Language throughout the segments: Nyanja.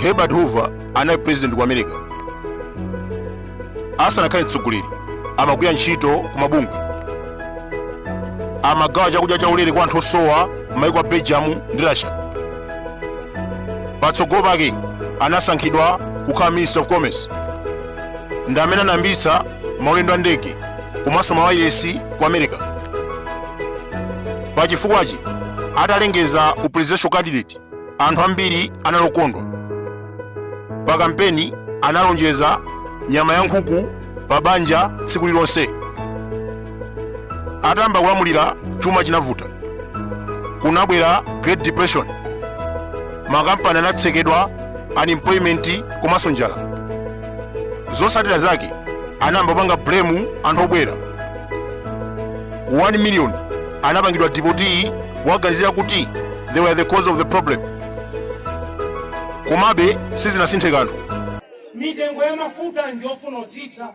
herbert hoover anali president ku america asanakhale mtsogoleri amagwira ntchito ku mabungwe amagawa chakudya chaulere kwa anthu osowa m'maiko a belgium ndi russia patsogolo pake anasankhidwa kukhala minister of commerce ndi amene anayambitsa maulendo a ndege komanso mawayilesi ku america pa chifukwachi atalengeza u presidential candidate anthu ambiri anali okondwa pa kampeni analonjeza nyama ya nkhuku pa banja tsiku lilonse atayamba kulamulira chuma chinavuta kunabwera great depression makampani anatsekedwa unemployment komanso njala zotsatira zake anayamba kupanga blame anthu obwera 1 million anapangidwa dipoti kuwaganizira kuti they were the cause of the problem komabe sizinasinthe kanthu mitengo ya mafuta ndi yofuna kutsitsa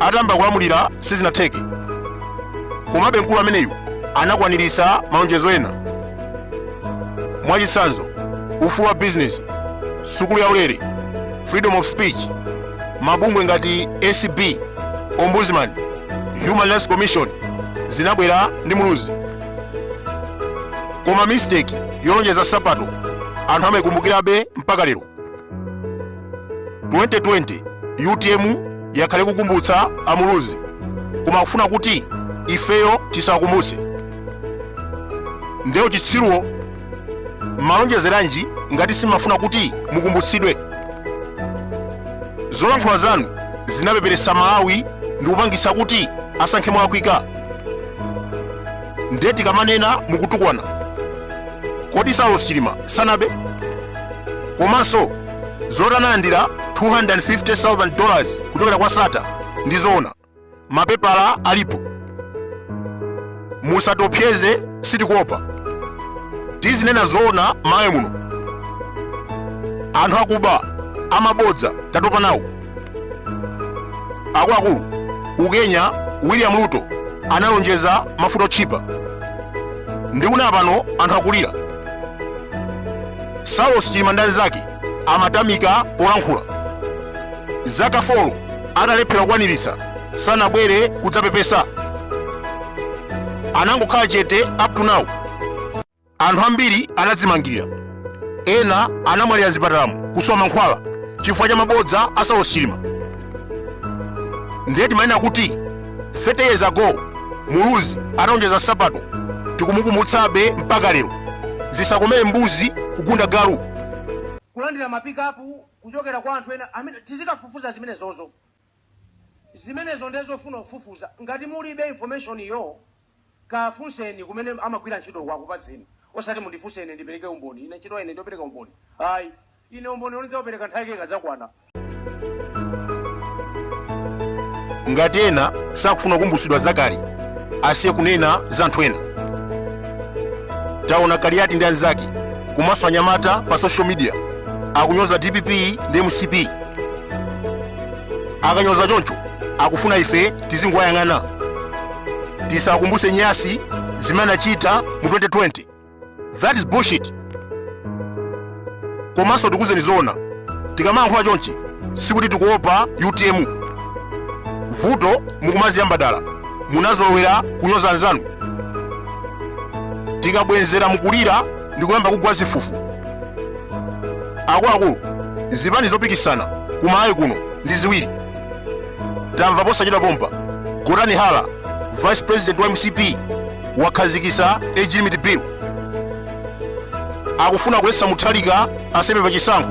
atamba kulamulira sizinatheke komabe mkulu ameneyu anakwaniritsa malonjezo ena mwachitsanzo ufulu wa bizinesi sukulu yaulere freedom of speech mabungwe ngati acb ombudsman human rights commission zinabwera ndi muluzi koma mistake yolonjeza nsapato anthu amaikumbukirabe mpaka lero 2020 utm yakhale kukumbutsa amuluzi koma akufuna kuti ifeyo tisakumbutse nde uchitsiruwo malonjezeranji ngati simafuna kuti mukumbutsidwe zolankhula zanu zinapeperetsa amalawi ndi kupangitsa kuti asankhe molakwika nde tikamanena mukutukwana kodi saulos chilima sanabe komanso zoti analandira 250,000 dollars kuchokera kwa sattar ndi zoona mapepala alipo musatiopseze sitikuopa tizinena zoona m'malawi muno anthu akuba amabodza tatopa nawo akuluakulu ku kenya william ruto analonjeza mafuta otchipa ndikunena pano anthu akulira saulos chilima ndi anzake amatamika polankhula zaka 4 atalephera kukwaniritsa sanabwere kudzapepesa anangokhala chete up to now anthu ambiri anadzimangirira ena anamwalira zipatalamu kusowa mankhwala chifukwa cha mabodza a saulos chilima ndiye timanena kuti 30 years ago muluzi analonjeza nsapato tikumukumbutsabe mpaka lero zisakomere mbuzi kugunda galu kulandira mapikapu kuchokera kwa anthu ena amene tizikafufuza zimenezozo Zimenezo nde zofuna kufufuza. Ngati mulibe information yo kafunseni kumene amagwira ntchitoko akupatseni osati mundifunse ine ndipereke umboni. Ine ntchito ya ine ndiopereka umboni? Ayi. Ine umboni wo ndidzaupereka nthawi yake ikadzakwana. Ngati ena sakufuna kukumbutsidwa zakale, asiye kunena za anthu ena. Taona Kaliati ndi anzake komanso anyamata pa social media akunyoza dpp ndi mcp. akanyoza choncho akufuna ife tizingowayang'ana tisakumbuse nyasi zimene anachita mu 2020 that is bullshit komanso tikuuzeni zoona tikamayankhula chonchi sikuti tikuopa utm vuto mukumaziyamba dala munazolowera kunyoza anzanu tikabwenzera mukulira ndikuyamba kugwa zifufu akuluakulu zipani zopikisana ku Malawi kuno ndi ziwiri tamva posachedwa pompa gotani hara vice president wa mcp wakhazikisa age limit bill akufuna kuletsa mutharika aseme pa chisankho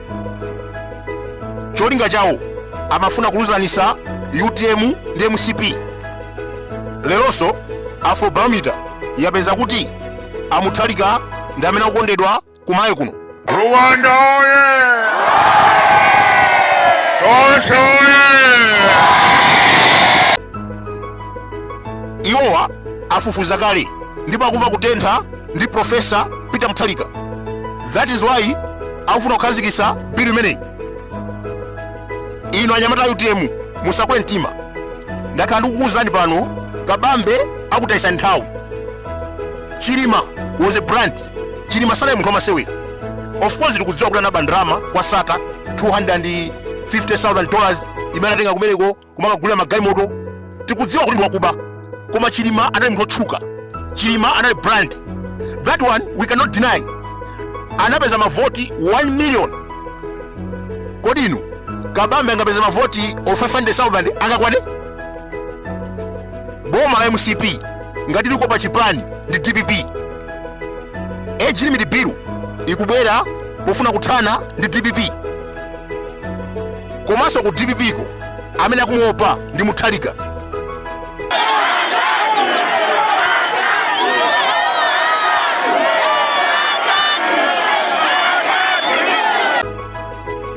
cholinga chawo amafuna kuluzanisa utm ndi mcp leronso afrobarometer yapeza kuti a mutharika ndi amene akukondedwa ku Malawi kuno Rwanda oye! Tosha oye! iwowa afufuza kale ndipo akumva kutentha ndi profesa peter mutharika that is why akufuna kukhazikisa bill imeneyi inu anyamata a utm musakwe mtima ndakhala ndikukuwuzani pano kabambe akutayitsani nthawi chilima was a brand chilima sanali munthu wamasewera of course ndikudziwa kuti anaba ndalama kwa Sattar 250000 dollars imene anatenga kumeneko kumakagulira magalimoto tikudziwa kuti ndiwakuba koma chilima anali munthu otchuka chilima anali brand that one we cannot deny anapeza mavoti 1 million kodi inu kabambe angapeza mavoti o 500000 angakwane boma la mcp ngati likuopa chipani ndi dpp age limit bill ikubwera pofuna kuthana ndi dpp komanso ku dpp ko amene akumuopa ndi mutharika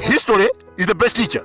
history is the best teacher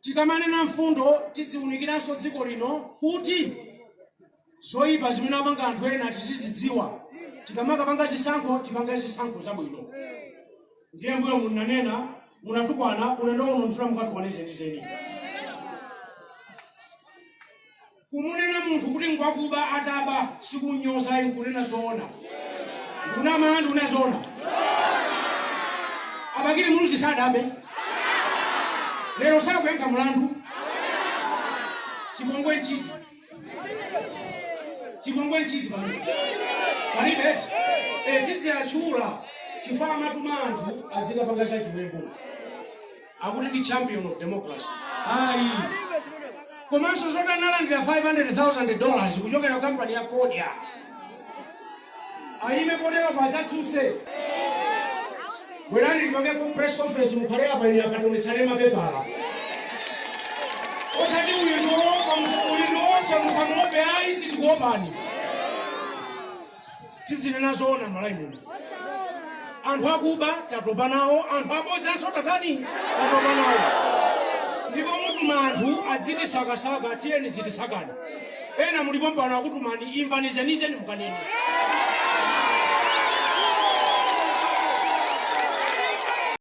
Tikamanena mfundo tidziwunikiranso dziko lino kuti zoyipa zimene apanga anthu ena tizizidziwa tikamakapanga chisankho tipange zisankho zabwino. Ndiye mbuyo munanena munatukwana ulendo uno mfuna mukatukwane zenizeni. Kumunena munthu kuti ngwakuba ataba sikunyoza ayi nkunena zoona? Ndikunama? Ndikunena zoona? A Bakili Muluzi sadabe? Lero sakuyankha mlandu? Chipongwe nchiti? Chipongwe nchiti pano? Palibe eti? Eh, tiziatchula chifukwa amatuma anthu azikapanga zachiwembu. akuti ndi champion of democracy ayi komanso zoti analandira 500,000 dollars kuchokera ku kampani ya fodya ayime poyera adzatsutse bwerani tipangepo press conference mukhale apa ine tikaonetsane mapepala osati uyu ndiopa uyu ndiopa musamuope ayi sitikuopani tizinena zoona malawi muno anthu akuba tatopa nawo anthu abodzanso tatani tatopa nawo ndipo mutuma anthu adzitisakasaka tiyeni dzitisakani ena mulipo mpompano akutumani imvani zenizeni mukanene